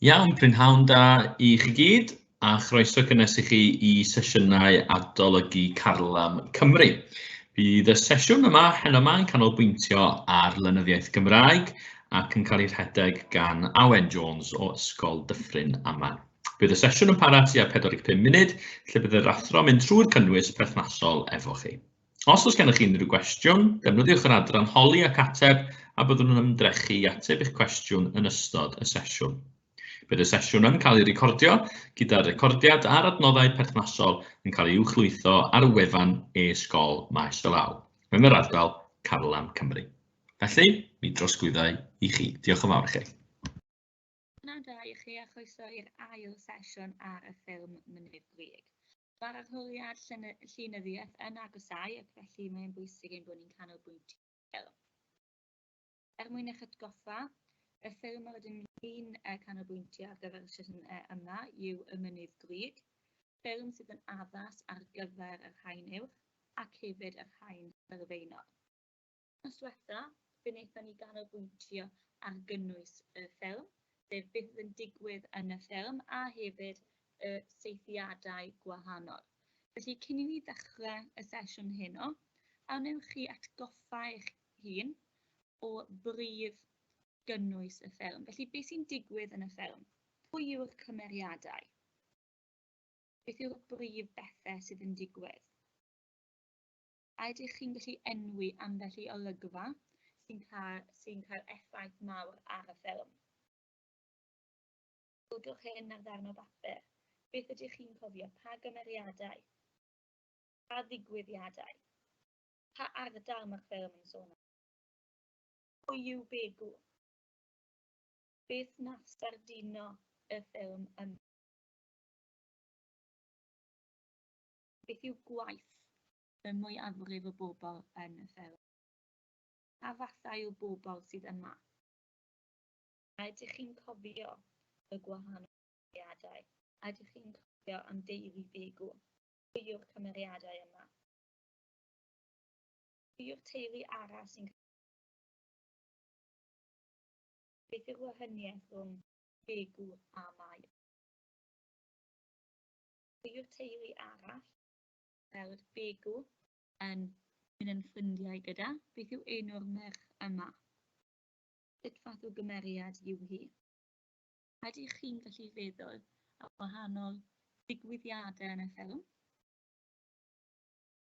Iawn, prynhawn da i chi gyd a chroeso cynnes i chi i sesiynau adolygu Carlam Cymru. Bydd y sesiwn yma hen yma yn canolbwyntio ar lenyddiaeth Gymraeg ac yn cael ei rhedeg gan Awen Jones o Ysgol Dyffryn Aman. Bydd y sesiwn yn para tua 45 munud, lle bydd yr athro yn mynd trwy'r cynnwys perthnasol efo chi. Os oes gennych chi unrhyw gwestiwn, defnyddiwch yr adran holi ac ateb a byddwn yn ymdrechu i ateb eich cwestiwn yn ystod y sesiwn. Bydd y sesiwn yn cael ei recordio, gyda'r recordiad a'r adnoddau perthnasol yn cael ei uwchlwytho ar y wefan e-sgol Maes y Law, yn yr ardal Carlam Cymru. Felly, mi drosglwyddau i chi. Diolch yn fawr i chi. Pnawn da i chi a chroeso i'r ail sesiwn ar y ffilm Mynydd Grug. Mae'r arholiad llenyddiaeth yn agosáu ac felly mae'n bwysig ein bod ni'n canolbwyntio ffilm. Er mwyn eich atgoffa, y ffilm yr ydym ni'n canolbwyntio ar gyfer y sesiwn yma yw Y Mynydd Grug, ffilm sydd yn addas ar gyfer yr haen uwch ac hefyd yr haen sylfaenol. Wythnos diwetha, fe wnaethon ni ganolbwyntio ar gynnwys y ffilm, sef beth oedd yn digwydd yn y ffilm a hefyd y seithiadau gwahanol. Felly cyn i ni ddechrau y sesiwn heno, a wnewch chi atgoffa eich hun o brif gynnwys y ffilm? Felly beth sy'n digwydd yn y ffilm? Pwy yw'r cymeriadau? Beth yw'r brif bethau sydd yn digwydd? A ydych chi'n gallu enwi ambell i olygfa sy'n cael, sy'n cael effaith mawr ar y ffilm? Codwch hyn ar ddarn o bapur. Beth ydych chi'n cofio? Pa gymeriadau? Pa ddigwyddiadau? Pa ardal mae'r ffilm yn sôn am? Pwy yw Begw? Beth nath sardino y ffilm yma? Beth yw gwaith y mwyafrif o bobl yn y Fferm? Pa fathau o bobl sydd yma? A ydych chi'n cofio y gwahanol cymeriadau? A ydych chi'n cofio am deulu Begw? Pwy yw'r cymeriadau yma? Pwy yw'r teulu arall sy'n cael Beth yw'r wahaniaeth rhwng Begw a Mair? Yw'r teulu arall, fel yr Begu, yn mynd yn ffrindiau gyda? Beth yw enw'r merch yma? Sut fath o gymeriad yw hi? Ydych chi'n gallu feddwl am wahanol ddigwyddiadau yn y ffilm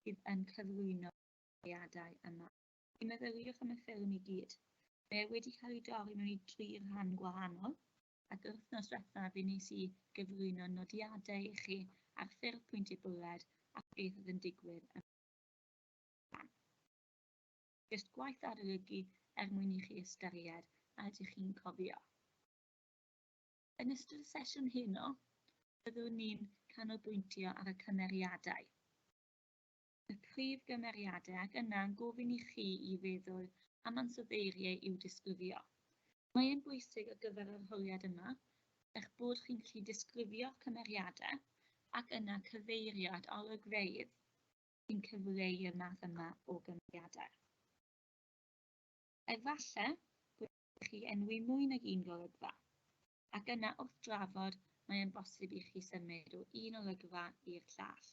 sydd yn cyflwyno cymeriadau yma? Meddyliwch am y ffilm i gyd. Mae e wedi cael ei dorri mewn i dri rhan gwahanol, ac yr wythnos diwethaf i nes i gyflwyno nodiadau i chi ar ffurf pwyntiau bwled a beth oedd yn digwydd ym Jyst gwaith arolygu er mwyn i chi ystyried a ydych chi'n cofio. Yn ystod y sesiwn heno, byddwn ni'n canolbwyntio ar y cymeriadau. y prif gymeriadau ac yna'n gofyn i chi i feddwl am ansoddeiriau i'w disgrifio. Mae e'n bwysig ar gyfer yr arholiad yma eich bod chi'n gallu disgrifio'ch cymeriadau ac yna cyfeirio at olygfeydd sy'n cyfleu'r math yma o gymeriadau. Efallai bod chi enwi mwy nag un golygfa, ac yna wrth drafod mae'n bosib i chi symud o un olygfa i'r llall.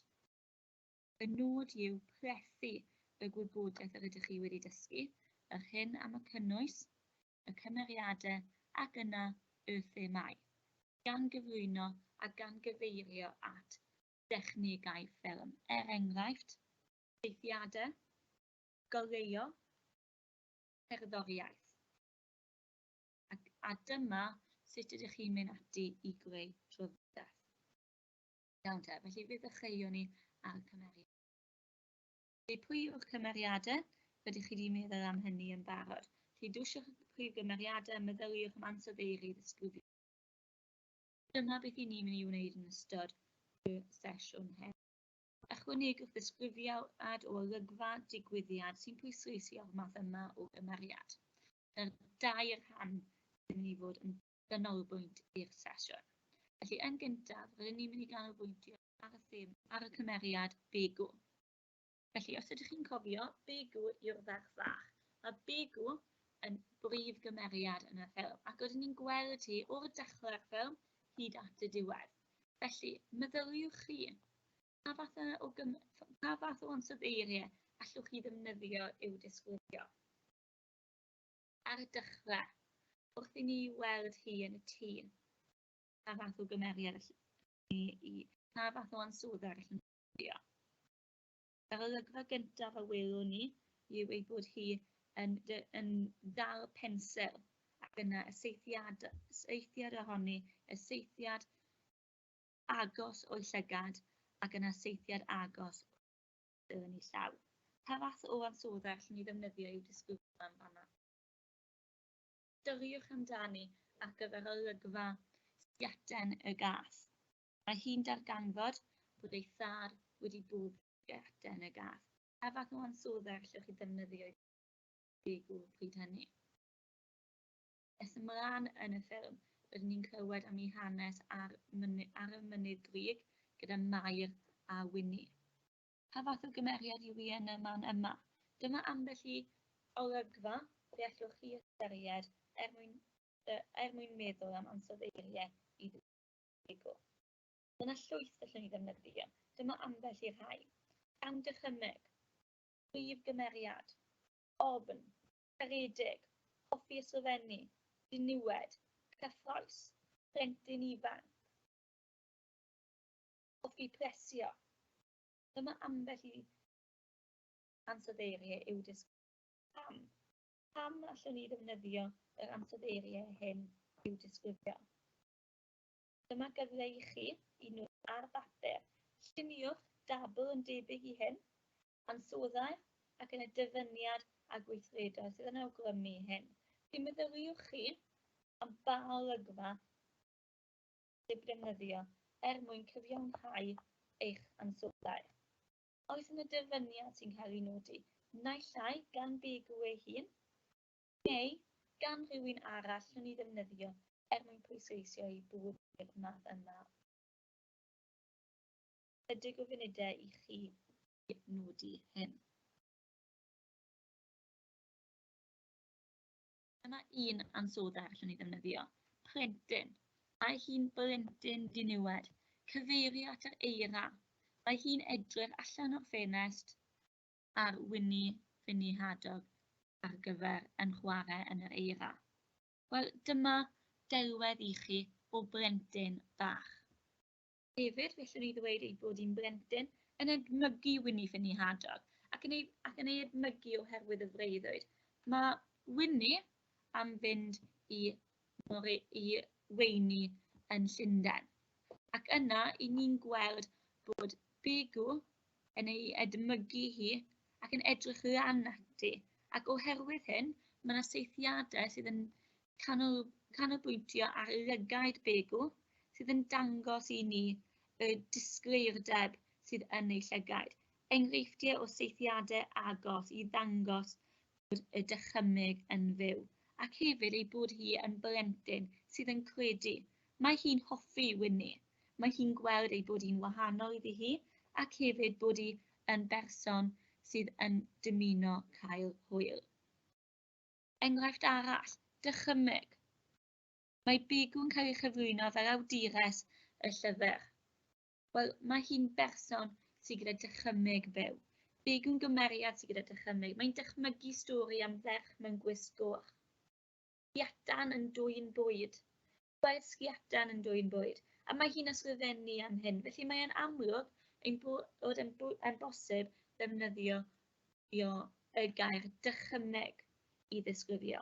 Y nod yw plethu y gwybodaeth yr ydych chi wedi dysgu, yr hyn am y cynnwys, y cymeriadau ac yna y themâu, gan gyflwyno a gan gyfeirio at dechnegau ffilm, er enghraifft, ffeithiadau, goleuo, cerddoriaeth, ac a dyma sut ydych chi'n mynd ati i greu trafodaeth. Iawn te, felly fe ddechreuwn ni ar cymeriad. Felly pwy yw'r cymeriadau? Rydych chi wedi meddwl am hynny yn barod. Felly dwyswch y prif gymeriadau, meddyliwch am ansoddeiri ddisgrifio. Dyma beth i ni'n mynd i wneud yn ystod y sesiwn hyn. Ychwanegwch ddisgrifiad o olygfa digwyddiad sy'n pwysleisio'r math yma o gymeriad. Dyna'r dair rhan sy'n mynd i fod yn ganolbwynt i'r sesiwn. Felly, yn gyntaf, rydyn ni'n mynd i ganolbwyntio ar y thema ar y cymeriad Begu. Felly, os ydych chi'n cofio, Begu yw'r ferch fach. Mae Begu yn brif gymeriad yn y ffilm, ac oeddwn ni'n gweld hi o'r dechrau'r ffilm hyd at y diwedd. Felly, meddyliwch chi, pa fath o, gym... pa fath o ansoddeiriau allwch chi ddefnyddio i'w disgrifio? Ar y dechrau, wrth i ni weld hi yn y tŷ, pa fath o gymeriad allwn ni i, pa fath o ansoddair allwn ni ddefnyddio. Yr olygfa gyntaf a welwn ni yw ei bod hi yn, yn dal pensel ac yna y seithiad, seithiad ohoni, y seithiad agos o'i llygad ac yna seithiad agos yn ei llaw. Pa fath o ansoddair allwn ni ddefnyddio i'w disgrifio yn fanna? Chwiliwch amdani ar gyfer olygfa sgiaten y gath. Mae hi'n darganfod bod ei thâr wedi bwrw sgiaten y gath. Pa fath o ansoddair allwch chi ddefnyddio i ddysgu pryd hynny? Nes ymlaen yn y ffilm, rydyn ni'n clywed am eu hanes ar y Mynydd Grug gyda Mair a Wini. Pa fath o gymeriad yw hi yn y man yma? Dyma ambell i olygfa y gallwch chi ystyried er mwyn er mwyn meddwl am ansoddeiriau i ddygwr. Dyna llwyth gallwn ni ddefnyddio. Dyma ambell i'r rhai. Gan ddychymyg, prif gymeriad, ofn, caredig, hoffi ysgrifennu, diniwed, cyffrous, plentyn ifanc, hoffi presio. Dyma ambell i ansoddeiriau i'w disgrifio. Pam? Pam allwn ni ddefnyddio yr ansoddeiriau hyn i'w disgrifio? Dyma gyfle i chi i nod ar bapur. Lluniwch dabl yn debyg i hyn. ansoddair ac yn y dyfyniad a gweithredai sydd yn awgrymu hyn. Felly meddyliwch chi am ba olygfa sydd defnyddio er mwyn cyfiawnhau eich ansoddair. Oes yn y dyfyniad sy'n cael ei nodi, naill ai gan Begu ei hun, neu gan rhywun arall nhw'n ei ddefnyddio er mwyn pwysleisio ei bod i'r math yma Ychydig o funudau i chi i nodi hyn. Dyna un ansodda allwn ni ddefnyddio, plentyn. Mae hi'n blentyn diniwed, cyfeirio at yr eira. Mae hi'n edrych allan o'r ffenest ar Winnie Finny Hadog ar gyfer yn chwarae yn yr eira. Wel, dyma delwedd i chi o blentyn bach. Hefyd, felly ni ddweud ei bod hi'n blentyn yn edmygu Wini Ffynni Hadog ac yn ei, ac yn ei edmygu oherwydd y freuddwyd. Mae Wini am fynd i, More, i weini yn Llundain. Ac yna, i ni'n gweld bod Begu yn ei edmygu hi ac yn edrych lan ati. Ac oherwydd hyn, mae yna seithiadau sydd yn canolbwyntio ar lygaid begw sydd yn dangos i ni y disgleirdeb sydd yn eu llygaid. Enghreifftiau o seithiadau agos i ddangos bod y dychymyg yn fyw, ac hefyd ei bod hi yn blentyn sydd yn credu. Mae hi'n hoffi wyni. Mae hi'n gweld ei bod hi'n wahanol iddi hi, ac hefyd bod hi yn berson sydd yn dymuno cael hwyl. Enghraifft arall, dychymyg. Mae Bigw yn cael ei chyflwyno fel awdures y llyfr. Wel, mae hi'n berson sydd gyda dychymyg byw. Big yn gymeriad sydd gyda dychymyg. Mae'n dychmygu stori am ferch mewn gwisg goch. Giatan yn dwyn bwyd. Mae'r sgiatan yn dwyn bwyd, a mae hi'n ysgrifennu am hyn, felly mae'n amlwg ein bod yn, yn bosib ddefnyddio y gair dychymeg i ddisgrifio.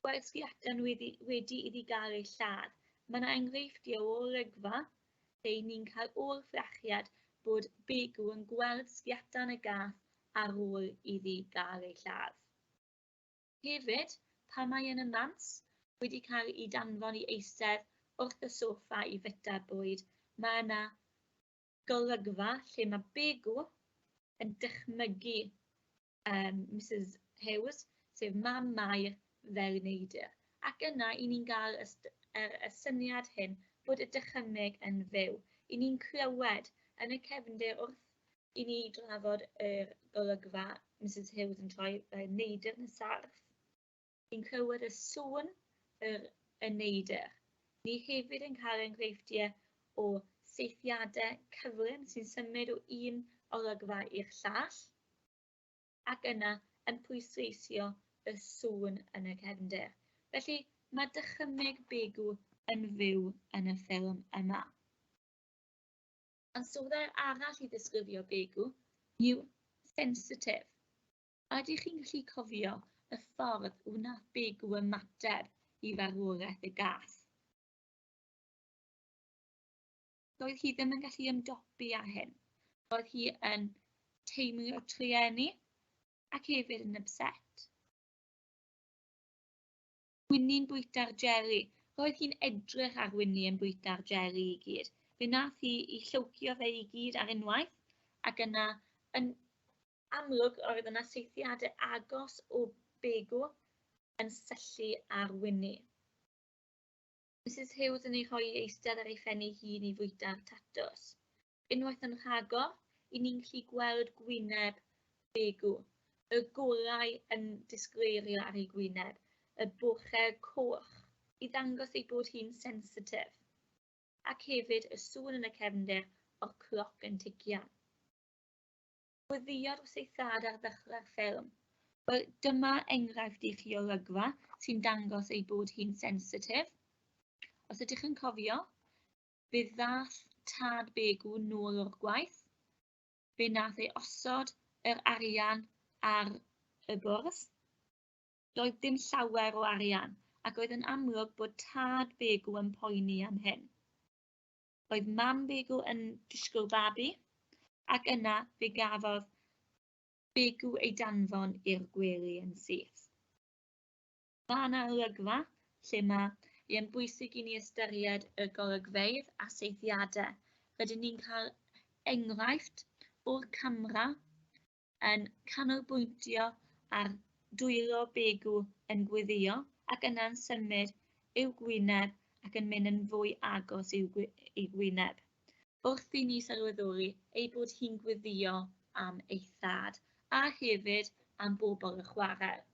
Mae'r sgiatan wedi, wedi iddi gael ei lladd. Mae yna enghreifftiau o olygfa lle ni'n cael o'r ffrachiad bod Begu yn gweld sgiatan y gath ar ôl iddi gael ei lladd. Hefyd, pan mae yn y nant, wedi cael ei danfon i eistedd wrth y soffa i fwyta bwyd, mae yna golygfa lle mae Begw yn dychmygu um, Mrs Hughes, sef mam Mair, fel y neidr. Ac yna, i ni'n cael y, er, y syniad hyn bod y dychymyg yn fyw. I ni'n clywed yn y cefndir wrth i ni drafod yr golygfa Misus Hughes yn troi y neidr yn y sarff. Ni'n clywed y sŵn yr y neidr. Ni hefyd yn cael enghreifftiau o seithiadau cyflym sy'n symud o un olygfa i'r llall, ac yna yn pwysleisio y sŵn yn y cefnder. Felly, mae dychymyg Begu yn fyw yn y ffilm yma. Ond swyddau arall i ddisgrifio begu yw sensitif. Ydych chi'n gallu cofio y ffordd wnaeth begu ymateb i farwolaeth y gath? Doedd hi ddim yn gallu ymdopi â hyn. Roedd hi yn teimlo trueni ac hefyd yn upset. Winnie'n bwyta'r jeli. Roedd hi'n edrych ar Winnie yn bwyta'r jeli i gyd. Fe nath hi i llywcio fe i gyd ar unwaith, ac yna, yn amlwg, roedd yna seithiadau agos o begw yn syllu ar Winnie. Misus Hughes yn ei rhoi eistedd ar ei phen ei hun i fwyta'r tatws. Unwaith yn rhagor, i ni'n gallu gweld gwyneb Begw, y gorau yn disgleirio ar ei gwyneb, y boche coch, i ddangos ei bod hi'n sensitif, ac hefyd y sŵn yn y cefnder o'r cloc yn tician. Gweddïodd wrth ei thad ar ddechrau'r ffilm. Wel, dyma enghraifft i chi olygfa sy'n dangos ei bod hi'n sensitif. Os ydych yn cofio, fe ddath tad Begw nôl o'r gwaith, fe nath ei osod yr arian ar y bwrs. Doedd dim llawer o arian, ac oedd yn amlwg bod tad Begw yn poeni am hyn. Oedd mam Begu yn disgwyl babi, ac yna fe gafodd Begu ei danfon i'r gwely yn syth. Mae yna olygfa lle mae yn bwysig i ni ystyried y golygfeydd a seithiadau. Rydyn ni'n cael enghraifft o'r camera yn canolbwyntio ar dwylo begw yn gweddio ac yna'n symud i'w gwyneb ac yn mynd yn fwy agos i'w gwyneb, wrth i ni sylweddoli ei bod hi'n gweddio am ei thad, a hefyd am bobl y chwarel.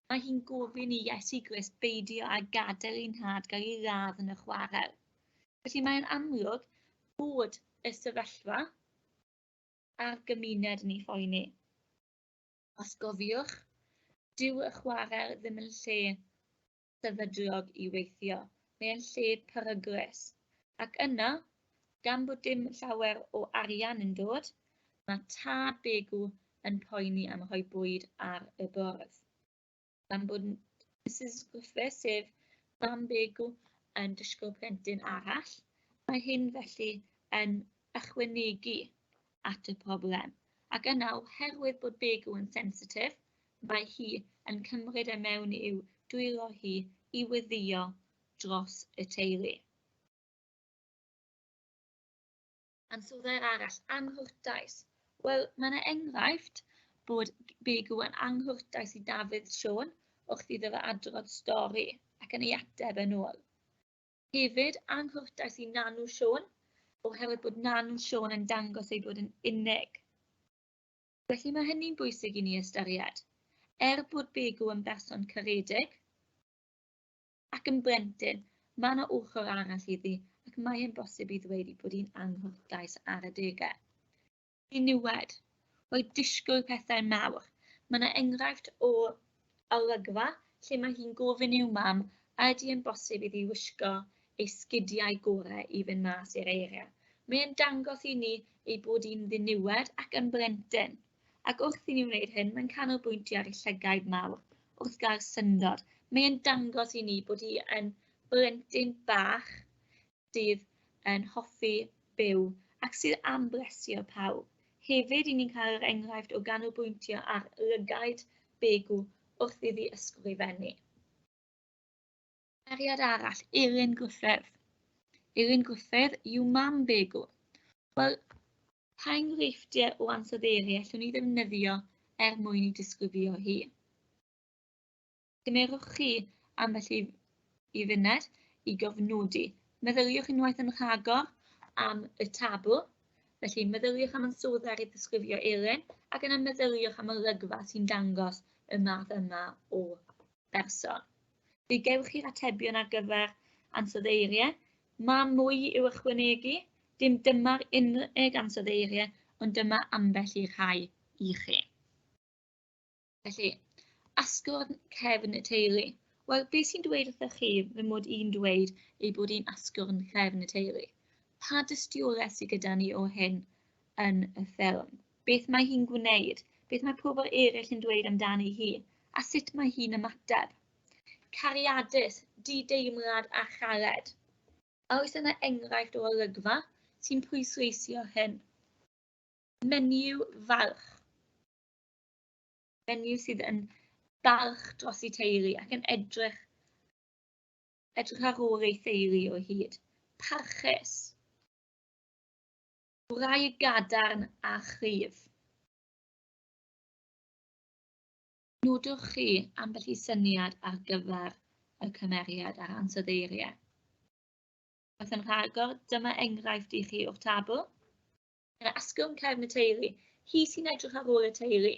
Mae hi'n gofyn i Iesu Grist beidio â gadael ei nhad gael ei ladd yn y chwarel. Felly mae'n amlwg bod y sefyllfa a'r gymuned yn ei phoeni. Os gofiwch, dyw y chwarel ddim yn lle sefydlog i weithio, mae'n lle peryglus. Ac yna, gan bod dim llawer o arian yn dod, mae tad Begw yn poeni am rhoi bwyd ar y bwrdd. gan bod Mrs Gwffe, sef mam Begw, yn disgwyl plentyn arall. Mae hyn felly yn ychwanegu at y problem. Ac yna, oherwydd bod Begw yn sensitif, mae hi yn cymryd e mewn i'w dwylo hi i weddïo dros y teulu. Ansoddair arall, anghwrtais. Wel, mae yna enghraifft bod Begu yn anghwrtais i Dafydd Siôn wrth iddo fe adrodd stori ac yn ei ateb yn ôl. Hefyd, anghwrtais i Nanu Siôn oherwydd bod Nanu Siôn yn dangos ei bod yn unig. Felly mae hynny'n bwysig i ni ystyried. Er bod Begu yn berson caredig, Ac yn blentyn, mae yna ochr arall iddi ac mae e'n bosib i ddweud ei bod hi'n anghwrtais ar adegau. I niwed, roedd disgwyl pethau mawr. Mae yna enghraifft o olygfa lle mae hi'n gofyn i'w mam a ydy e'n bosib iddi wisgo ei sgidiau gorau i fynd mas i'r eiriau. Mae e'n dangos i ni ei bod hi'n ddiniwed ac yn blentyn. ac wrth i ni wneud hyn, mae'n canolbwyntio ar y llygaid mawr wrth gael syndod. Mae'n dangos i ni bod hi yn blentyn bach sydd yn hoffi byw ac sydd am blesio pawb. Hefyd, i ni'n cael yr enghraifft o ganolbwyntio ar lygaid Begw wrth iddi ysgrifennu. Cymeriad arall, Eirin Gruffydd. Eirin Gruffydd yw mam Begw. Wel, pa enghreifftiau o ansoddeiri allwn ni ddefnyddio er mwyn ei disgrifio hi? Gymerwch chi ambell i, i funed i gofnodi. Meddyliwch unwaith yn rhagor am y tabl, felly meddyliwch am ansoddair i ddisgrifio Eirin ac yna meddyliwch am olygfa sy'n dangos y math yma o berson. Fe gewch chi'r atebion ar gyfer ansoddeiriau. Mae mwy i'w ychwanegu, dim dyma'r unig ansoddeiriau, ond dyma ambell i'r rhai i chi. Felly, asgwrn cefn y teulu. Wel, beth sy'n dweud wrthych chi fy mod i'n dweud ei bod hi'n asgwrn cefn y teulu? Pa dystiolaeth sydd gyda ni o hyn? yn y ffilm. Beth mae hi'n gwneud, beth mae pobl eraill yn dweud amdani hi, a sut mae hi'n ymateb. Cariadus, di-deimlad a chared. A oes yna enghraifft o olygfa sy'n pwysleisio hyn? Menyw falch. Menyw sydd yn balch dros ei teulu ac yn edrych edrych ar ôl ei theulu o hyd. Parchus. Gwraig gadarn a chryf. Nodwch chi ambell i syniad ar gyfer y cymeriad a'r ansoddeiriau. Wrth yn rhagor, dyma enghraifft i chi o'r tabl. Yn asgwrn cefn y teulu, hi sy'n edrych ar ôl y teulu.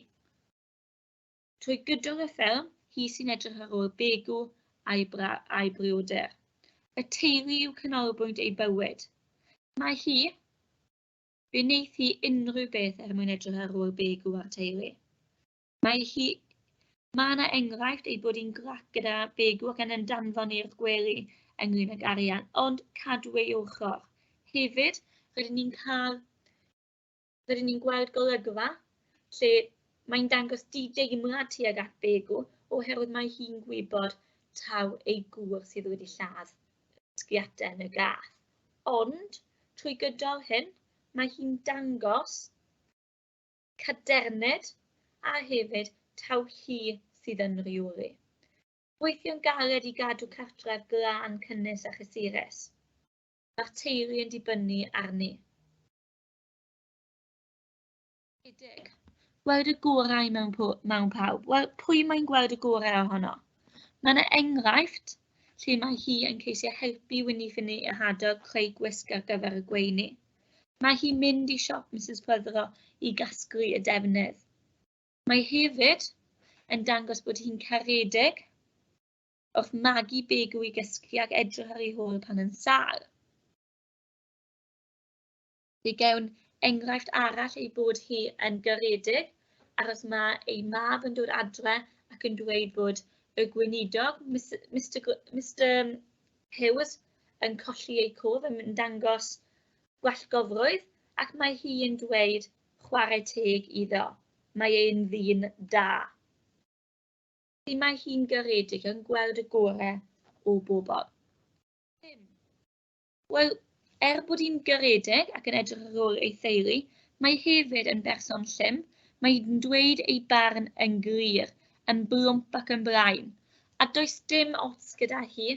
Trwy gydol y ffilm, hi sy'n edrych ar ôl Begu a'i, bra, a'i brioder. Y teulu yw canolbwynt ei bywyd. Mae hi, fe wneith hi unrhyw beth er mwyn edrych ar ôl Begu a'r teulu. Mae hi Mae yna enghraifft ei bod hi'n grac gyda Begu ac yn yn danfon i'r gwely ynglyn ag arian, ond cadw ei ochr. Hefyd, rydyn ni'n cael rydyn ni'n gweld golygfa lle mae'n dangos di-deimlad tuag at Begw oherwydd mae hi'n gwybod taw ei gŵr sydd wedi lladd sgiatau yn y gath. Ond, trwy gydol hyn, mae hi'n dangos caderned a hefyd taw hi sydd yn rheoli. Gweithio'n galed i gadw cartref glân cynnes a chysurus. Mae'r teulu yn dibynnu arni. Ydig. Gweld y gorau mewn, mewn pawb. Wel, pwy mae'n gweld y gorau ohono? Mae yna enghraifft lle mae hi yn ceisio helpu Winnie Finney a Hadog creu gwisg ar gyfer y gweini. Mae hi'n mynd i siop Mrs Pryddro i gasglu y defnydd. Mae hefyd yn dangos bod hi'n caredig wrth magu big yw i gysgu ac edrych ar ei hôl pan yn sâl. Fe gewn enghraifft arall ei bod hi yn garedig, ar os mae ei mab yn dod adre ac yn dweud bod y gweinidog, Mister, Mister Hughes, yn colli eu cof yn dangos gwellgofrwydd ac mae hi yn dweud chwarae teg iddo, mae ein ddyn da. Felly mae hi'n garedig yn gweld y gorau o bobl. Wel, er bod hi'n garedig ac yn edrych ar ôl ei theulu, mae hefyd yn berson llym, mae hi'n dweud ei barn yn glir, yn blwmp ac yn brain, a does dim ots gyda hi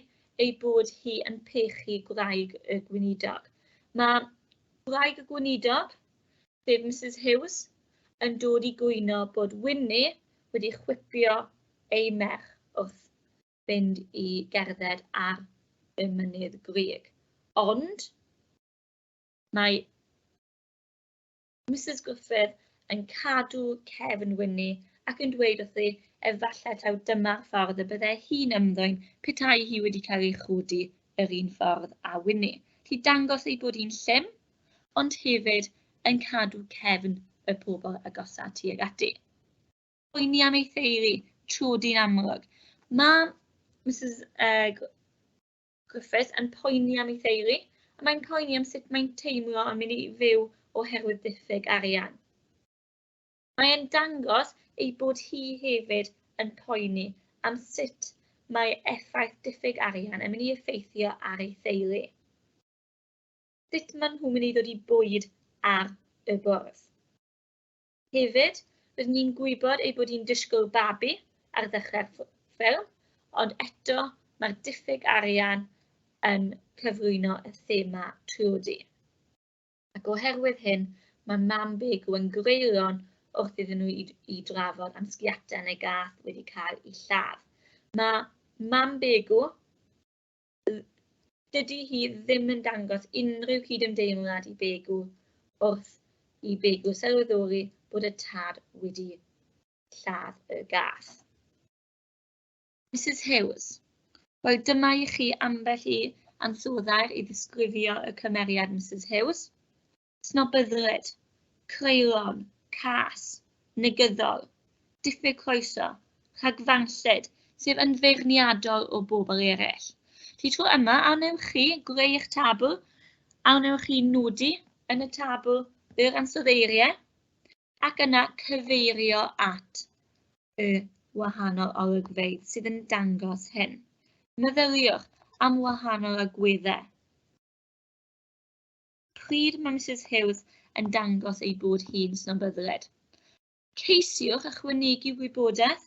ei bod hi yn pechu gwraig y gweinidog. Mae gwraig y gweinidog, sef Mrs Hughes, yn dod i gwyno bod Winnie wedi chwipio ei merch wrth fynd i gerdded ar y mynydd grug. Ond mae Mrs Gruffydd yn cadw cefn Winnie ac yn dweud wrthi efallai taw dyma'r ffordd y byddai hi'n ymddwyn petai hi wedi cael ei chodi yr un ffordd â Winnie. Lli dangos ei bod hi'n llym, ond hefyd yn cadw cefn y pobl agosa tuag ati. poeni am ei theulu trwy dyn amlwg. Mae Mrs uh, Griffiths yn poeni am ei theulu, a mae'n poeni am sut mae'n teimlo yn mynd i fyw oherwydd diffyg arian. Mae'n dangos ei bod hi hefyd yn poeni am sut mae effaith diffyg arian yn mynd i effeithio ar ei theulu. Sut maen nhw'n mynd i ddod i bwyd ar y bwrdd. Hefyd, rydyn ni'n gwybod ei bod hi'n disgwyl babi ar ddechrau'r ffilm, ond eto mae'r diffyg arian yn cyflwyno y thema trwydi. Ac oherwydd hyn, mae mam Begu yn greulon wrth iddyn nhw i, i drafod am sgiatau neu gath wedi cael ei lladd. Mae mam Begu dydy hi ddim yn dangos unrhyw gydymdeimlad i Begw wrth i Begw sylweddoli bod y tad wedi lladd y gath. Mrs Hughes, wel dyma i chi ambell i ansoddair i ddisgrifio y cymeriad Mrs Hughes. snobyddlyd, creulon, cas, negyddol, diffyg croeso, rhagfarnllyd, sef yn feirniadol o bobl eraill. Ti tro yma, a wnewch chi greu eich tabl, a wnewch chi nodi yn y tabl yr ansoddeiriau, ac yna cyfeirio at y wahanol olygfeydd sydd yn dangos hyn. Meddyliwch am wahanol agweddau. pryd mae Mrs Hughes yn dangos ei bod hi'n snobyddiaid. Ceisiwch ychwanegu wybodaeth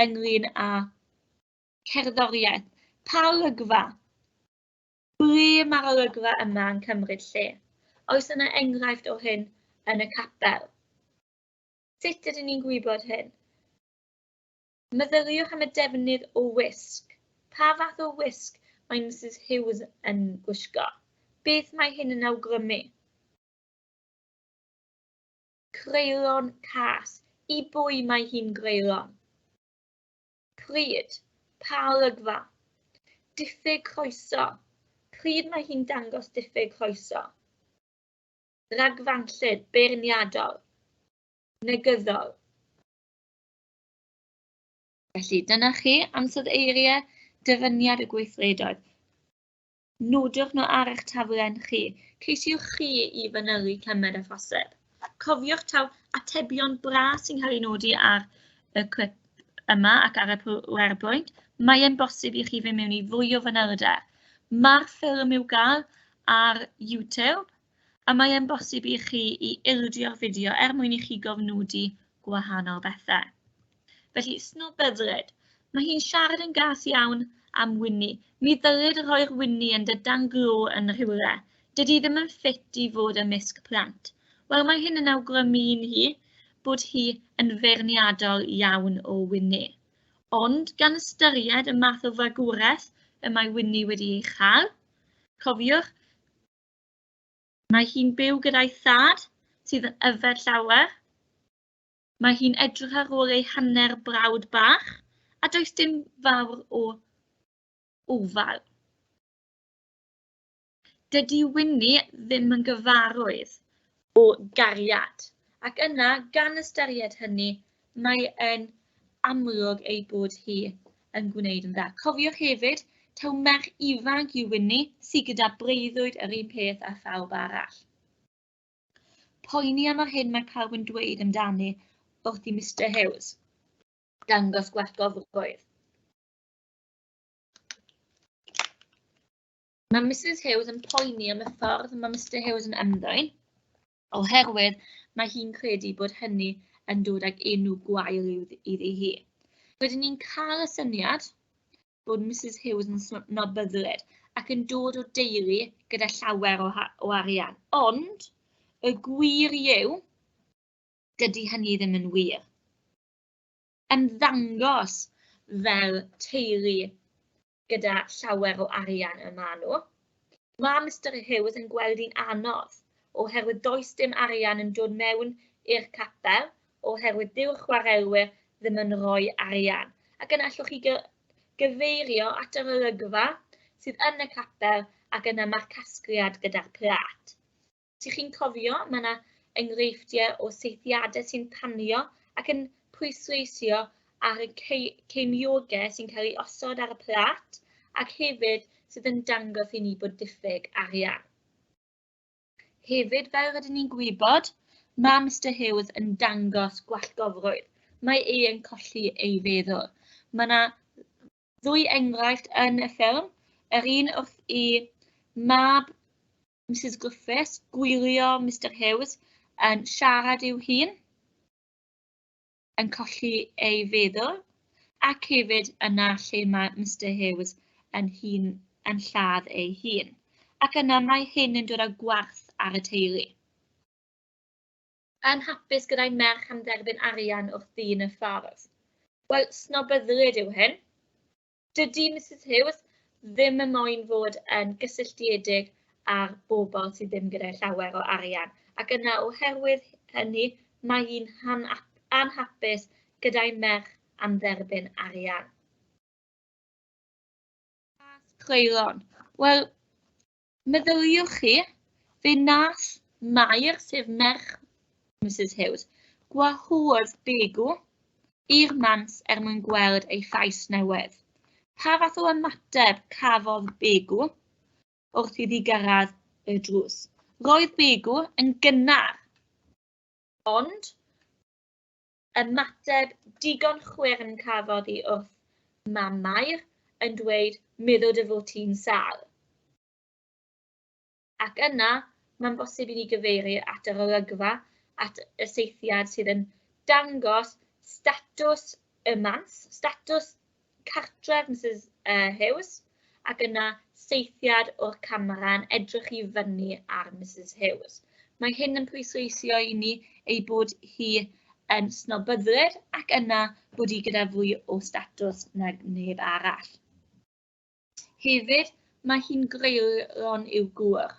ynglyn â cerddoriaeth. Pa olygfa? Ble mae'r olygfa yma yn cymryd lle? Oes yna enghraifft o hyn yn y capel? Sut ydyn ni'n gwybod hyn? Meddyliwch am y defnydd o wisg. Pa fath o wisg mae Misus Hughes yn gwisgo? Beth mae hyn yn awgrymu? Creulon cas. I bwy mae hi'n greulon? Pryd? Pa olygfa? Diffyg croeso. Pryd mae hi'n dangos diffyg croeso? Ragfanllyd, beirniadol, negyddol. Felly, dyna chi ansod eiriau dyfyniad y gweithredoedd. Nodwch nhw ar eich taflen chi. Ceisiwch chi i fanylu cymed a phosib. Cofiwch taw atebion bra sy'n cael ei nodi ar y clip yma ac ar y PowerPoint. Mae'n bosib i chi fynd mewn i fwy o fanylder. Mae'r ffilm i'w gael ar YouTube a mae e'n bosib i chi i ildio'r fideo er mwyn i chi gofnodi gwahanol bethau. Felly, snobydred. Mae hi'n siarad yn gas iawn am Winnie. Mi ddylid rhoi'r Winnie yn dy dan glo yn rhywle. Dydy ddim yn ffit i fod ymysg plant. Wel, mae hyn yn awgrymu i'n hi bod hi yn feirniadol iawn o Winnie. Ond gan ystyried y math o fagwraeth y mae Winnie wedi ei chael, cofiwch, Mae hi'n byw gyda'i thad, sydd yn yfed llawer. Mae hi'n edrych ar ôl ei hanner brawd bach, a does dim fawr o ofal. Dydy Winnie ddim yn gyfarwydd o gariad, ac yna, gan ystyried hynny, mae e'n amlwg ei bod hi yn gwneud yn dda. Cofiwch hefyd taw merch ifanc yw Winnie, sydd gyda breuddwyd yr un peth â phawb arall. Poeni am yr hyn mae pawb yn dweud amdani wrth i Mister Hughes dangos gwerthgofrwydd. Mae Mrs Hughes yn poeni am y ffordd mae Mr Hughes yn ymddwyn, oherwydd mae hi'n credu bod hynny yn dod ag enw gwael iddi hi. Rydyn ni'n cael y syniad bod Mrs Hughes yn snobyddlyd ac yn dod o deulu gyda llawer o, o arian. Ond y gwir yw, dydy hynny ddim yn wir. Ymddangos fel teulu gyda llawer o arian y maen nhw. Mae Mr Hughes yn gweld hi'n anodd oherwydd does dim arian yn dod mewn i'r capel oherwydd dyw'r chwaraewyr ddim yn rhoi arian. Ac yna allwch chi gyfeirio at yr olygfa sydd yn y capel ac yna mae'r casgliad gyda'r plat. Dych chi'n cofio, mae yna enghreifftiau o seithiadau sy'n tanio ac yn pwysleisio ar y ceimiogau sy'n cael ei osod ar y plat ac hefyd sydd yn dangos i ni bod diffyg arian. Hefyd, fel rydyn ni'n gwybod, mae Mr Hughes yn dangos gwallgofrwydd. Mae ei yn colli ei feddwl. Mae yna ddwy enghraifft yn y ffilm, yr un wrth i mab Mrs Griffiths, gwylio Mr Hughes yn siarad i'w hun, yn colli ei feddwl, ac hefyd yna lle mae Mr Hughes yn hun yn lladd ei hun. Ac yna mae hyn yn dod â gwarth ar y teulu. Yn hapus gyda'i merch am dderbyn arian wrth ddyn y ffordd. Wel, snobyddlyd yw hyn. Dydy Misus Hughes ddim yn moyn fod yn gysylltiedig â'r bobl sydd ddim gyda llawer o arian, ac yna oherwydd hynny mae hi'n anhapus gyda'i merch am dderbyn arian. Pas creulon. Wel, Meddyliwch chi, fe nath Mair, sef merch Mrs Hughes, gwahodd Begu i'r mans er mwyn gweld ei llais newydd. Pa fath o ymateb cafodd Begu wrth iddi gyrraedd y drws? Roedd Begu yn gynnar, ond Ymateb digon chwyrn cafodd i wrth Mam Mair yn dweud meddo dy fod ti'n sâl. Ac yna, mae'n bosib i ni gyfeiru at yr olygfa, at y seithiad sydd yn dangos statws y mans, statws cartref Misus uh, Hughes ac yna seithiad o'r camera yn edrych i fyny ar Mrs Hughes. Mae hyn yn pwysleisio i ni ei bod hi yn snobyddwyr ac yna bod hi gyda fwy o statws nag neb arall. Hefyd, mae hi'n greulon i'w gŵr.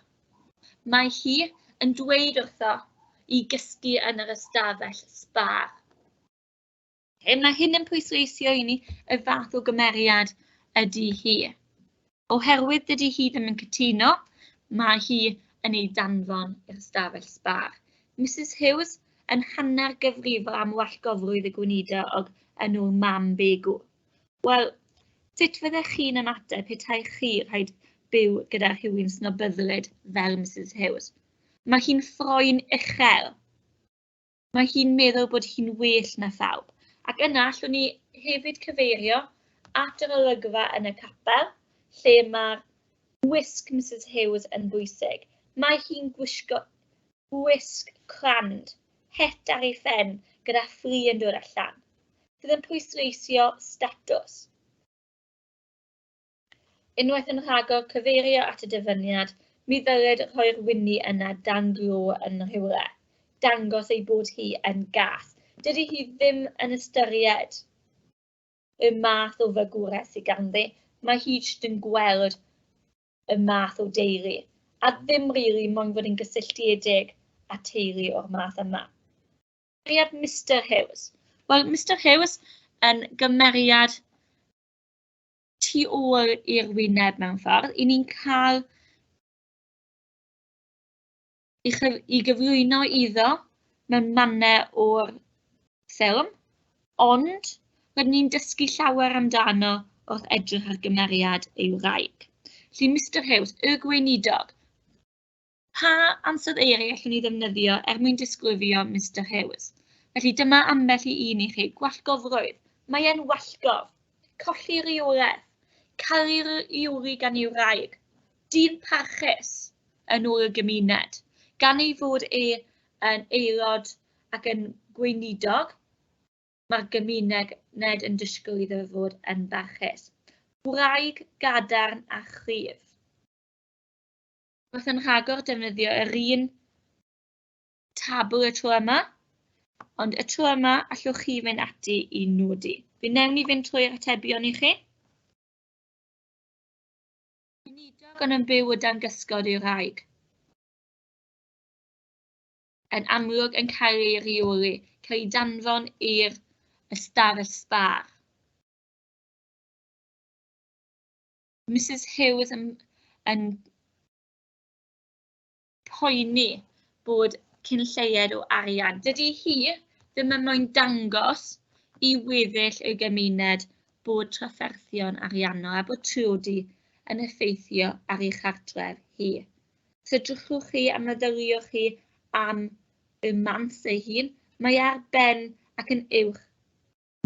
Mae hi yn dweud wrtho i gysgu yn yr ystafell sbar. Lle mae hyn yn pwysleisio i ni y fath o gymeriad ydy hi. Oherwydd dydy hi ddim yn cytuno, mae hi yn ei danfon i'r stafell sbar. Mrs Hughes yn hanner gyfrifol am wallgofrwydd y gweinidog yn ôl mam Begw. Wel, sut fyddech chi'n ymateb petai chi rhaid byw gyda rhywun snobyddlyd fel Mrs Hughes? Mae hi'n ffroen uchel. Mae hi'n meddwl bod hi'n well na phawb. Ac yna allwn ni hefyd cyfeirio at yr olygfa yn y capel, lle mae'r wisg Mrs Hughes yn bwysig. Mae hi'n gwisgo gwisg crand, het ar ei phen gyda ffri yn dod allan, sydd yn pwysleisio statws. Unwaith yn rhagor cyfeirio at y dyfyniad, mi ddylid rhoi'r wynni yna dan glo yn rhywle, dangos ei bod hi yn gas. Dydy hi ddim yn ystyried y math o fygwraeth sydd ganddi, mae hi jyst yn gweld y math o deulu, a ddim rili really, moyn fod yn gysylltiedig â teulu o'r math yma. Cymeriad Mr Hughes. Wel, Mr Hughes yn gymeriad tu ôl i'r wyneb mewn ffordd, i ni'n cael i, chyf i gyflwyno iddo mewn mannau o'r ffilm, ond rydyn ni'n dysgu llawer amdano wrth edrych ar gymeriad ei wraig. Felly, Mr Hughes, y gweinidog, Pa ansoddeiriau allwn ni ddefnyddio er mwyn disgrifio Mister Hughes? Felly dyma ambell i un i chi. Gwallgofrwydd. Mae e'n wallgof. Colli rywraeth. Caru'r iwri gan ei wraig. Dyn parchus yn ôl y gymuned. Gan ei fod e yn aelod ac yn gweinidog, mae'r gymuned yn disgwyl iddo fod yn barchus. Gwraig gadarn a chryf. wrth yn rhagor defnyddio yr un tabl y tro yma, ond y tro yma allwch chi fynd ati i nodi. Fi newn ni fynd trwy'r atebion i chi. Unidog yn yn byw y dan gysgod i'w rhaeg. Yn amlwg yn cael ei reoli, cael ei danfon i'r ystafell sbar. Mrs Hughes yn, yn poeni bod cyn lleied o arian. Dydy hi ddim yn moyn dangos i weddill y gymuned bod trafferthion ariannol a bod triodi yn effeithio ar ei chartref hi. Sydrychwch chi a myfyriwch chi am y mans ei hun, mae ar ben ac yn uwch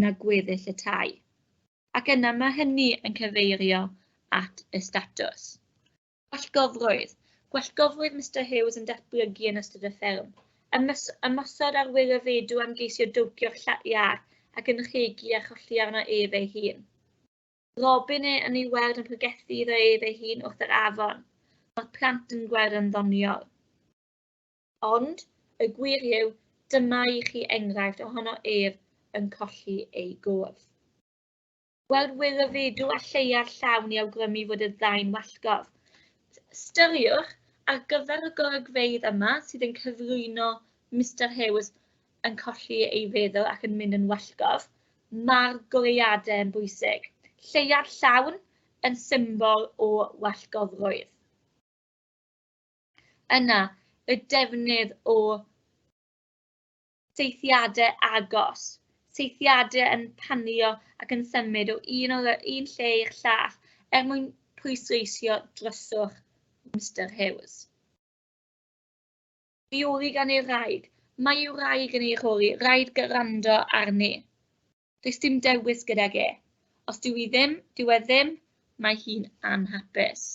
na gweddill y tai, ac yna mae hynny yn cyfeirio at y statws. Gwellgofrwydd. Gwellgofrwydd Mister Hughes yn datblygu yn ystod y fferm. Ymys ymosod ar wyr y feidw am geisio dowcio'r iâr ac yn rhegi a cholli arno ef ei hun. Robin e yn ei weld yn pregethu iddo ef ei hun wrth yr afon. Mae'r plant yn gweld yn ddoniol. Ond, y gwir yw, dyma i chi enghraifft ohono ef yn colli ei gof. Gweld wir y fedw a lleia'r llawn i awgrymu fod y ddau'n wallgof. Styriwch, ar gyfer y golygfeydd yma sydd yn cyflwyno Mister Hughes yn colli ei feddwl ac yn mynd yn wallgof, mae'r goleuadau yn bwysig. Lleia'r llawn yn symbol o wallgofrwydd. Yna, y defnydd o seithiadau agos, seithiadau yn panio ac yn symud o un, o un lle i'r llall er mwyn pwysleisio dryswch Mr Hughes. Mi oedd i gan ei wraig, mae ei wraig yn ei rhoi, rhaid gyrrando arni. Does dim dewis gydag e. Os dyw i ddim, dyw e ddim, mae hi'n anhapus.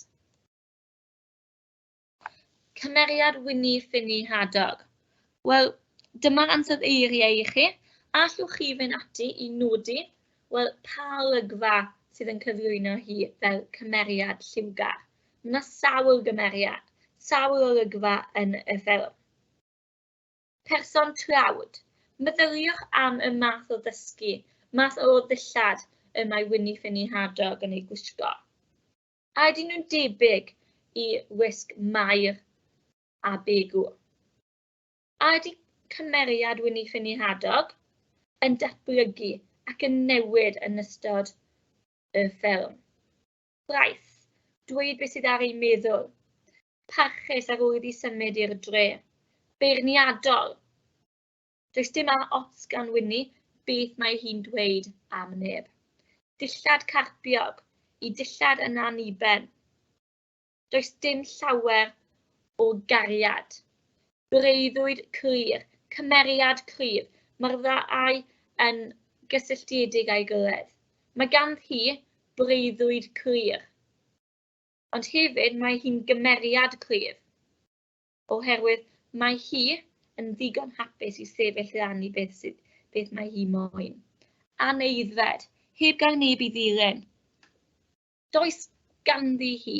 Cymeriad Wini Ffini Hadog. Wel, dyma'r ansawdd eiriau i chi. Allwch chi fynd ati i nodi, wel, pa olygfa sydd yn cyflwyno hi fel cymeriad lliwgar. Mae yna sawl gymeriad, sawl olygfa yn y ffilm. Person trawd. Meddyliwch am y math o ddysgu, math o ddillad y mae Wini Ffini Hadog yn ei gwisgo. a ydyn nhw'n debyg i wisg Mair a Begw? A ydy cymeriad Wini Ffini Hadog yn datblygu ac yn newid yn ystod y ffilm? Braith, dweud beth sydd ar ei meddwl. Parchus ar ôl iddi symud i'r dre. Beirniadol. Does dim a ots gan Winni beth mae hi'n dweud am neb. Dillad carpiog i dillad yn anniben. Does dim llawer o gariad. Breuddwyd clir, cymeriad cryf, mae'r ddau yn gysylltiedig â'i gilydd. Mae ganddi breuddwyd clir, ond hefyd mae hi'n gymeriad cryf. oherwydd mae hi yn ddigon hapus i sefyll i rannu beth, sydd, beth mae hi moyn. Aneidfed, heb gael neb i ddilyn. Does ganddi hi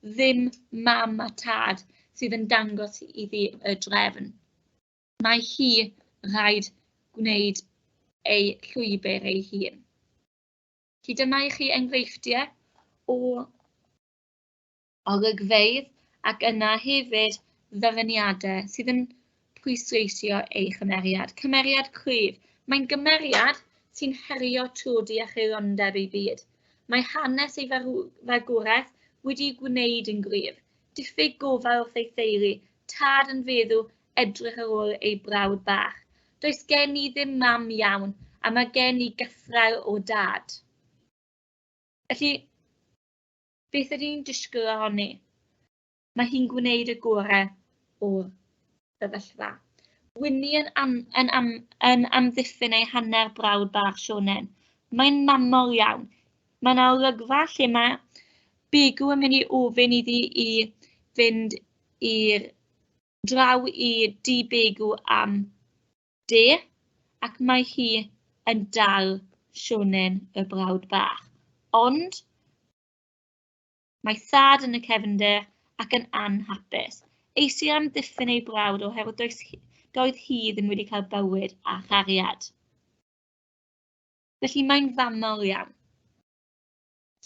ddim mam a tad sydd yn dangos iddi y drefn. Mae hi rhaid gwneud ei llwybr ei hun. Felly dyma i chi enghreifftiau o olygfeydd ac yna hefyd ddyfyniadau sydd yn pwysleisio ei chymeriad. Cymeriad cryf. Mae'n gymeriad sy'n herio trwd i acheirondeb ei byd. Mae hanes ei fagwraeth wedi'i gwneud yn gryf. Diffyg gofal wrth ei theulu, tad yn feddw edrych ar ôl ei brawd bach. Does gen i ddim mam iawn, a mae gen i gythraul o dad. Felly, Beth ydyn ni'n disgwyl ohoni? Mae hi'n gwneud y gorau o'r sefyllfa. Winnie yn, am, yn, am, yn amddiffyn ei hanner brawd bach Sionen. Mae'n mamol iawn. Mae yna olygfa lle mae Bigw yn mynd i ofyn iddi i fynd i'r draw i dŷ Bigw am De, ac mae hi yn dal Sionen y Brawd Bach. Ond mae thad yn y cefnder ac yn anhapus. Eisiau amddiffyn ei brawd oherwydd does, doedd hi ddim wedi cael bywyd a chariad. Felly mae'n fanol iawn.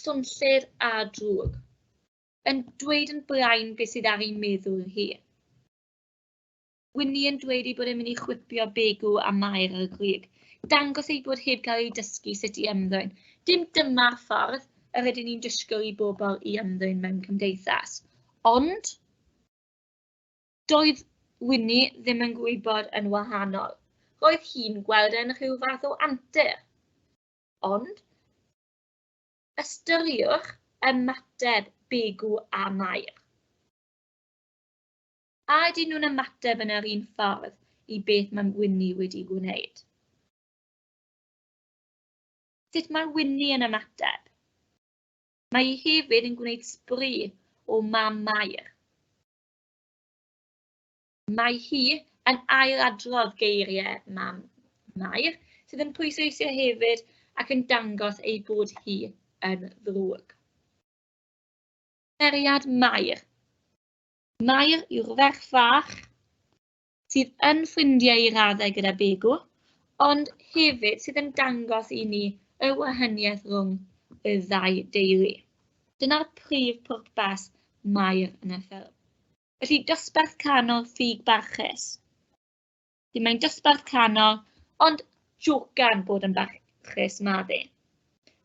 Swnllyd a drwg. Yn dweud yn brain beth sydd ar ei meddwl hi. Winnie yn dweud ei bod e'n mynd i chwipio begu a mair ar y grug. Dangos ei bod heb cael ei dysgu sut i ymddwyn. Dim dyma'r ffordd yr ydyn ni'n disgwyl i bobl i ymddwyn mewn cymdeithas. Ond, doedd Winnie ddim yn gwybod yn wahanol. Roedd hi'n gweld yn rhyw fath o antur. Ond, ystyriwch ymateb begu a mair. A ydyn nhw'n ymateb yn yr un ffordd i beth mae Winnie wedi gwneud? Sut mae Winnie yn ymateb? Mae hi hefyd yn gwneud sbri o mam Mair. Mae hi yn ailadrodd geiriau mam Mair, sydd yn pwysleisio hefyd ac yn dangos ei bod hi yn ddrwg. Cymeriad Mair. Mair yw'r ferch fach sydd yn ffrindiau i raddau gyda Begu, ond hefyd sydd yn dangos i ni y wahaniaeth rhwng y ddau deulu. Dyna'r prif pwrpas Mair yn y ffilm. Felly, dosbarth canol ffug barchus. Felly mae'n dosbarth canol, ond jocan bod yn barchus ma fe.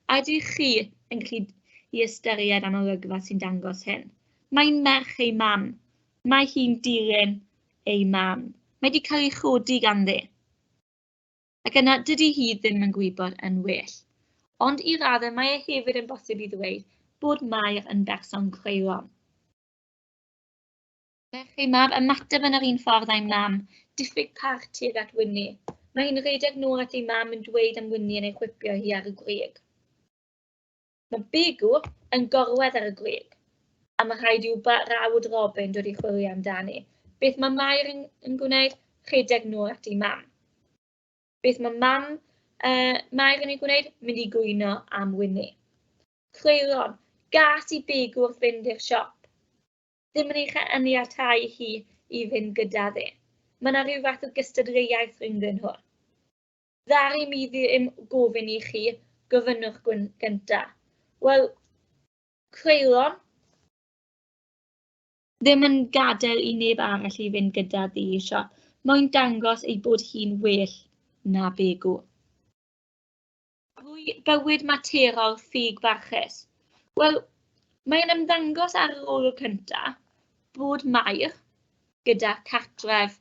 A ydych chi yn gallu i ystyried am olygfa sy'n dangos hyn? Mae'n merch ei mam. Mae hi'n dilyn ei mam. Mae wedi cael ei chodi ganddi. Ac yna, dydy hi ddim yn gwybod yn well. Ond i raddau mae e hefyd yn bosib i ddweud bod Mair yn berson creulon. Felly mae'r ymateb yn yr un ffordd â'i mam, diffyg parch tuag at Wini. Mae hi'n rhedeg nôl at ei mam yn dweud am Wini yn ei chwipio hi ar y grug. Mae Begu yn gorwedd ar y grug, a mae rhaid i'w brawd Robin dod i chwilio amdani. Beth mae Mair yn, yn gwneud? Rhedeg nôl at ei mam. Beth mae mam uh, Mair yn ei gwneud? Mynd i gwyno am Wini. Creulon, gas i Begu wrth fynd i'r siop. ddim yn ei chaniatáu hi i fynd gyda fe. Mae yna rhyw fath o gystadleuaeth rhyngddyn nhw. Ddari mi ddim gofyn i chi, gofynnwch gynta. Wel, creulon, ddim yn gadael i neb arall i fynd gyda ddi i siop. Mae'n dangos ei bod hi'n well na begw. drwy bywyd materol ffug barchus. Wel, mae'n ymddangos ar yr olwg cyntaf bod Mair gyda cartref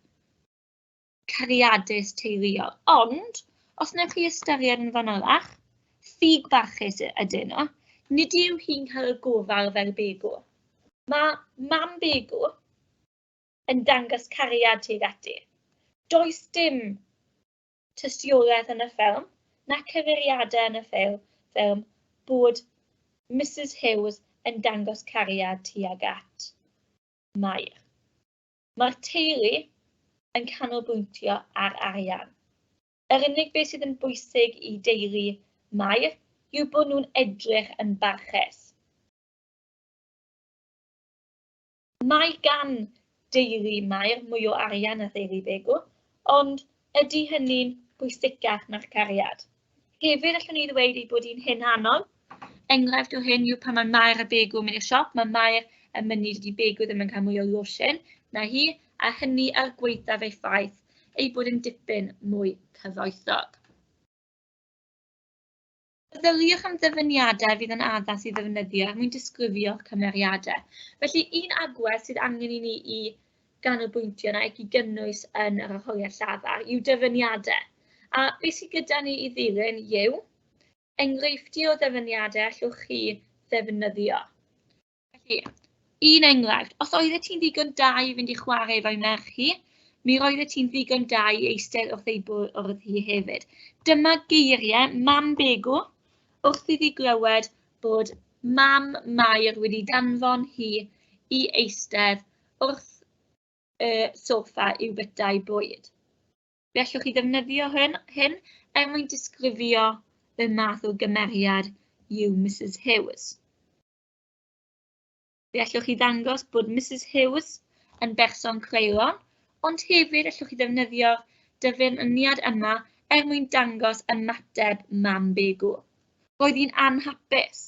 cariadus teuluol, ond os wnaeth chi ystyried yn fanylach, ffug barchus ydyn nhw, nid yw hi'n cael y gofal fel begw. Mae mam begw yn dangos cariad tuag ati. Does dim tystiolaeth yn y ffilm, na cyfeiriadau yn y ffilm, ffilm bod Mrs Hughes yn dangos cariad tuag at Mair. Mae'r teulu yn canolbwyntio ar arian. Yr unig beth sydd yn bwysig i deulu Mair yw bod nhw'n edrych yn barchus. Mae gan deulu Mair mwy o arian na theulu Begw, ond ydy hynny'n bwysicach na'r cariad? Hefyd, allwn i ddweud ei bod hi'n hunanol. Enghraifft o hyn yw pan mae Mair a Begw yn mynd i'r siop, mae Mair yn mynnu dydy Begw ddim yn cael mwy o losin na hi, a hynny ar gwaethaf ei ffaith ei bod yn dipyn mwy cyfoethog. Meddyliwch am ddyfyniadau fydd yn addas i ddefnyddio er mwyn disgrifio'ch cymeriadau. Felly, un agwedd sydd angen i ni i ganolbwyntio na ac i gynnwys yn yr arholiad llafar yw dyfyniadau. A beth sydd gyda ni i ddilyn yw enghreifftiau o ddyfyniadau allwch chi ddefnyddio. Felly, un enghraifft, os oeddet ti'n ddigon da i fynd i chwarae efo'i merch hi, mi roeddet ti'n ddigon da i eistedd wrth ei bwrdd hi hefyd. Dyma geiriau mam Begw wrth iddi glywed bod mam Mair wedi danfon hi i eistedd wrth y sofa i'w bytau bwyd. Fe allwch chi ddefnyddio hyn, hyn er mwyn disgrifio y math o gymeriad yw Mrs Hughes. Fe allwch chi ddangos bod Mrs Hughes yn berson creulon, ond hefyd allwch chi ddefnyddio dyfyniad yma er mwyn dangos ymateb mam Begw. Roedd hi'n anhapus.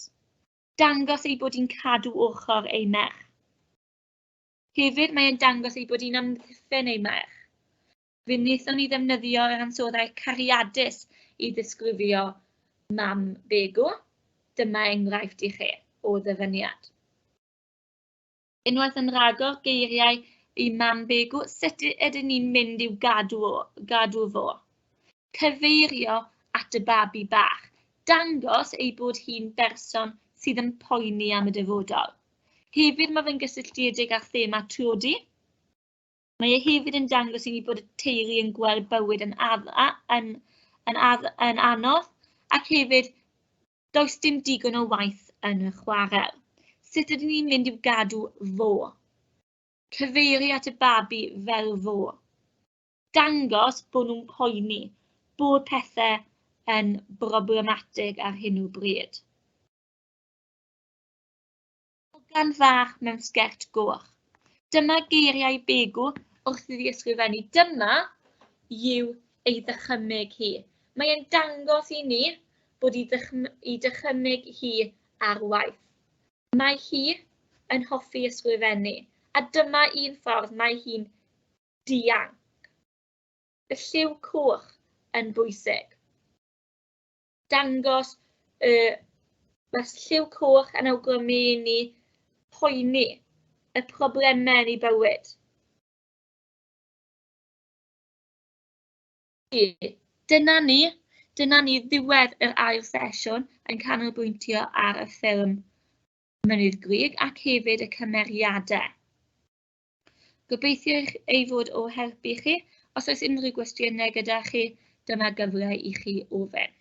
Dangos ei bod hi'n cadw ochr ei merch. Hefyd mae'n dangos ei bod hi'n amddiffyn ei merch. Fe wnaethon ni ddefnyddio yr ansoddair cariadus i ddisgrifio mam Begw. Dyma enghraifft i chi o ddyfyniad. Unwaith yn rhagor geiriau i mam Begw, sut ydyn ni'n mynd i'w gadw, o, gadw fo? Cyfeirio at y babi bach, dangos ei bod hi'n berson sydd yn poeni am y dyfodol. Hefyd mae fe'n gysylltiedig â thema tlodi. Mae e hefyd yn dangos i ni bod y teulu yn gweld bywyd yn ar, yn, yn, ar, yn anodd ac hefyd does dim digon o waith yn y chwarel. Sut ydyn ni'n mynd i'w gadw fo? Cyfeiri at y babi fel fo. Dangos bod nhw'n poeni, bod pethau yn broblematig ar hyn o bryd. Hogan fach mewn sgert goch. Dyma geiriau Begu wrth iddi ysgrifennu. Dyma yw ei ddychymyg hi. Mae e'n dangos i ni bod i, i dychymyg hi ar waith. Mae hi yn hoffi ysgrifennu, a dyma un ffordd mae hi'n dianc. Y lliw coch yn bwysig. dangos y wers lliw coch yn awgrymu i ni poeni y problemau yn ei bywyd. Dyna ni, dyna ni ddiwedd yr ail sesiwn yn canolbwyntio ar y ffilm Mynydd Grig ac hefyd y cymeriadau. Gobeithio ei fod o help i chi. Os oes unrhyw gwestiynau gyda chi, dyma gyfle i chi ofyn.